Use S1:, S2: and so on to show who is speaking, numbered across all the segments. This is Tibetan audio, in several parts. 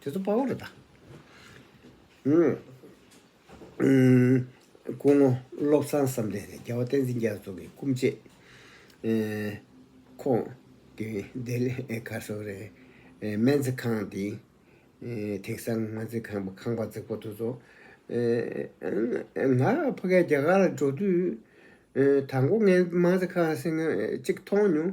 S1: དེ་ཚོ་དཔའ་བོ་རུ་བལྟ། སྐུ་ངོ་བློ་བཟང་བསམ་གཏན་ནི་རྒྱལ་བ་བསྟན་འཛིན་རྒྱ་མཚོ་གི་སྐུ་མཆེད། ཁོང་གི་འདས་ལས་ག་སོ་རེ་སྨན་རྩིས་ཁང་འདི་དེང་སང་སྨན་རྩིས་ཁང་པ་ཁང་པ་རྫིག་པོ་དེ་ཚོ། ང་ཕ་གས་རྒྱ་གར་ལ་འགྲོ་དུས་དང་པོ་ངས་སྨན་རྩིས་ཁང་གསེང་གཅིག་མཐོང་མྱོང།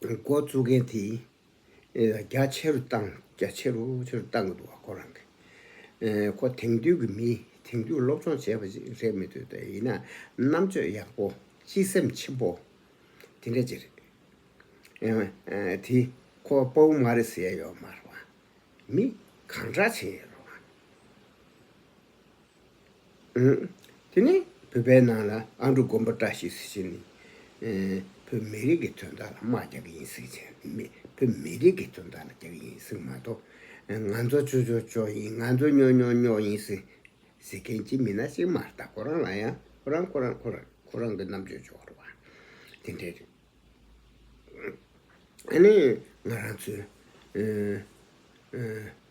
S1: འགོ་བཙུགས་མཁན་དེས་རྒྱ་ཆེ་རུ་བཏང་རྒྱ་ཆེ་རུ་ཆེ་རུ་བཏང་གི་འདུག་བ་ཁོ་རང་གིས། ཁོ་དེང་དུས་ཀྱི་མི་དེང་དུས་སློབ་སྦྱོང་བྱས་པ་ཞིག་རེད་མི་འདོད་དེ་ཡིན་ན་རྣམ་དཔྱོད་ཡག་པོ་སྤྱི་སེམས་ཆེན་པོ་དེ་འདྲ་ཅིག་རེད། དེ་ཁོ་དཔའ་བོ་མ་རེད་ཟེར་ཡ་ཡོད་མ་རེད་བ། མི་གང་དྲག་བྱེད་ཡོད་རེད་བ། དེ་ནས་བོད་པའི་ནང་ལ་ཨ་འབྲུག་དགོན་པ་བཀྲ་ཤིས་ཟེར་བཞིན་བོད་མི་རིགས་ཀྱི་དོན་དག་ལ་དམག་རྒྱག་གི་ཡིན་ཟེར་གྱི་བོད་མི་རིགས་ཀྱི་དོན་དག་ལ་རྒྱག་གི་ཡིན་ཟེར་གི་མ་གཏོགས་ང་ཚོ་ཅོ་ཅོ་ཅོ་ཡིན་ང་ཚོ་སྨྱོ་སྨྱོ་སྨྱོ་ཡིན་ཟེར་མཁན་གྱི་མི་སྣ་ཞིག་མ་གཏགས་ཁོ་རང་ལ་ཡང་ཁོ་རང་ཁོ་རང་ཁོ་རང་ཁོ་རང་གི་རྣམ་དཔྱོད་ཆོག་རེད་བ་དེ་འདྲས་རེད། ཨ་ནི་ང་རང་ཚོའི་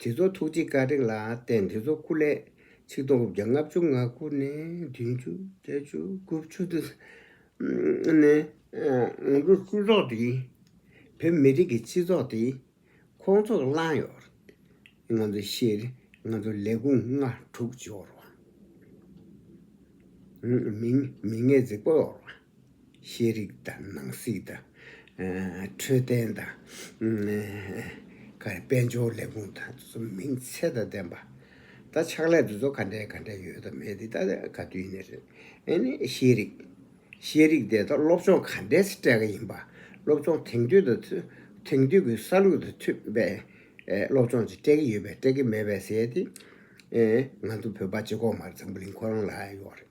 S1: དེ་ཚོ་ཐུགས་རྗེ་དཀའ་དྲེགས་ལ་བརྟེན་དེ་ཚོ་སྐུ་ལས་ཆིག་སྟོང་དགུ་བརྒྱ་ལྔ་བཅུ་ང་དགུ་ནས་བདུན་བཅུ་བརྒྱད་བཅུ་དགུ་བཅུ་དུ་ནས་ང་དྲུག་སྤྲུལ་ཚོགས་འདི་བོད་མི་རིགས་ཀྱི་སྤྱི་ཚོགས་འདི་ཁོང་ཚོར་བླངས་ཡོད་ང་ཚོ་ཤེས་ང་ཚོ་ལས་ཁུངས་ལྔ་དྲུག་འབྱོར་བ་མི་ངན་རྫིག་པོ་ཡོད་རེད། ཤེས་རིག་དང་ནང་སྲིད་དང། འཕྲོད་བསྟེན་དང། དཔལ་འབྱོར་ལས་ཁུངས་དང་གསུམ་མིང་ཚད་དང་ལྡན་པ། ད་ཕྱག་ལས་འདི་ཚོ་ག་འདྲའི་ག་འདྲའི་ཡོད་དམ་མེད་འདི་ད་ག་དུས་ནས་རེད། ཨེ་ནས་ཤེས་རིག། ཤེས་རིག་དེ་དག་སློབ་སྦྱོང་ག་འདྲས་སྤྲད་ག་ཡིན་པ། སློབ་སྦྱོང་དེང་དུས་དང་དེང་དུས་ཀྱི་ས་ལུགས་དང་མཐུན་པའི་སློབ་སྦྱོང་ཅིག་སྤྲད་གི་ཡོད་པས་སྤྲད་གི་མེད་པའི་ཟེར་ཏེ། ང་ཚོ་བོད་པ་སྤྱི་ཁོག་མར་འཛམ་བུ་གླིང་ཁོ་རང་ལ་ཡོད་རེད།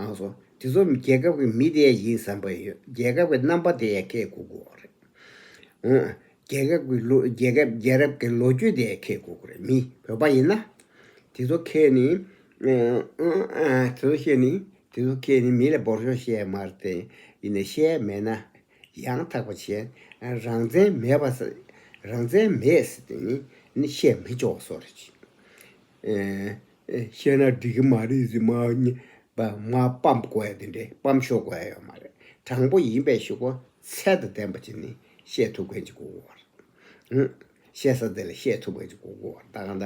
S1: ཨང་སོ། དེ་ཚོ་རྒྱལ་ཁབ་ཀྱི་མི་དེ་ཡིན་བསམ་པ་ཡོད་རྒྱལ་ཁབ་ཀྱི་རྣམ་པ་དེ་ཁས་བསྐུག་དགོས་པ་རེད། ཨང། རྒྱལ་ཁབ་ཀྱི་ལོ་རྒྱལ་ཁབ་རྒྱལ་རབས་ཀྱི་ལོ་རྒྱུས་དེ་ཁས་བསྐུག་དགོས་རེད་མི་བོད་པ་ཡིན་ན། དེ་ཚོ་ཁས་ནི། དེ་ཚོ་བཤད་ནི་དེ་ཚོ་ཁས་ནི་མི་ལ་འབོར་ཆོག་བཤད་མ་རེད། ཡིན་ན་བཤད་མེད་ན། ཡང་དག་པ་བྱས། རང་བཙན་མེད་པ། རང་བཙན་མེད་ཟེར་དེ་ནི་བཤད་མི་ཆོག་བཟོ་རེད། བཤད་ན་འགྲིག་གི་མ་རེད་ཟེར་མ་མ་སྤམ་དགོས་ཡ་དེ་འདྲས་སྤམ་ཤོར་དགོས་ཡ་ཡོད་མ་རེད་དྲང་པོ་ཡིན་པའི་ཤོག་པོ་ཚད་དང་ལྡན་པ་ཅིག་ནི་བཤད་ཐུབ་མཁན་ཅིག་གོ་དགོས་བ་རེད། བཤད་ས་དེ་ལ་བཤད་ཐུབ་མཁན་ཅིག་གོ་དགོས་བ་རེད་ད་གང་ད་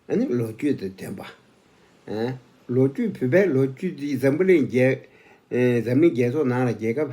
S1: ཨ་ནི་ལོ་རྒྱུས་དང་ལྡན་པ། ལོ་རྒྱུས་བོད་པའི་ལོ་རྒྱུས་འདི་འཛམ་བུ་གླིང་རྒྱལ་འཛམ་གླིང་རྒྱལ་ཚོགས་ནང་ལ་རྒྱལ་ཁབ།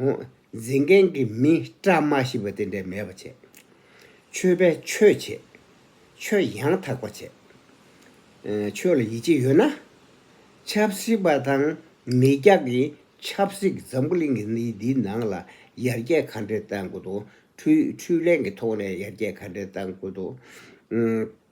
S1: འཛིན་མཁན་གྱི་མི་བཀྲ་མ་ཤིས་པ་དེ་འདྲས་མེད་པ་བྱས། ཆོས་པས་ཆོས་བྱེད། ཆོས་ཡང་དག་པ་བྱེད། ཆོས་ལ་ཡིད་ཆེས་ཡོད་ན། ཆབ་སྲིད་པ་དང་མི་སྐྱ་གིས་ཆབ་སྲིད་འཛམ་བུ་གླིང་གི་གནས་འདིའི་ནང་ལ་ཡར་རྒྱས་ག་འདྲས་གཏང་དགོས་འདུག་འཕྲུལ་ལས་ཀྱི་ཐོག་ནས་ཡར་རྒྱས་ག་འདྲས་གཏང་དགོས་འདུག།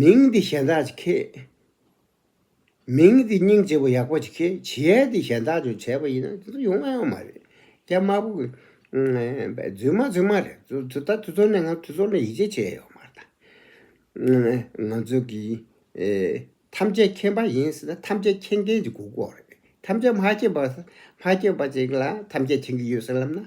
S1: མིང་འདི་གཞན་དག་ཅིག་གི། མིང་འདི་སྙིང་རྗེ་བོ་ཡག་པོ་ཅིག་གི་བྱེད་ཡས་འདི་གཞན་དག་ཅིག་བྱས་པ་ཡིན་ན་དེ་ཚོ་ཡོང་ང་ཡང་མ་རེད་རྒྱ་དམར་པོ་གི། རྫུན་མ་རྫུན་མ་རེད་དེ་ད་དེ་ཚོ་ནས་ང་དེ་ཚོ་ལ་ཡིད་ཆེས་བྱས་ཡོད་མ་རེད་ད། ང་ཚོ་གི་ཐམས་ཅད་མཁྱེན་པ་ཡིན་ཟེར་ན་ཐམས་ཅད་མཁྱེན་མཁན་གྱི་གུ་གུ་འོག་རེད་ཐམས་ཅད་མ་མཁྱེན་པ་མ་མཁྱེན་པ་ཅིག་ལ་ཐམས་ཅད་མཁྱེན་གྱི་ཡོད་ཟེར་ལབ་ན་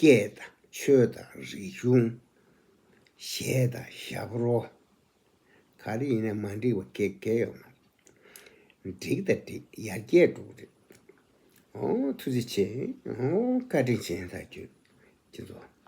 S1: སྐད་དང་ཆོས་དང་རིག་གཞུང། གཞས་དང་ཞབས་རོ། ག་རེ་ཡིན་ན་མ་འགྲིག་པ་འགའ་འགའ་ཡོང་ན། འགྲིག་དང་འགྲིག་ཡར་རྒྱས་འགྲོ་གི་རེད། ཨོ་ཐུགས་རྗེ་ཆེ། ཨོ་བཀའ་དྲིན་ཆེ་ད་ཁྱོད་ཀྱི་ཚོ།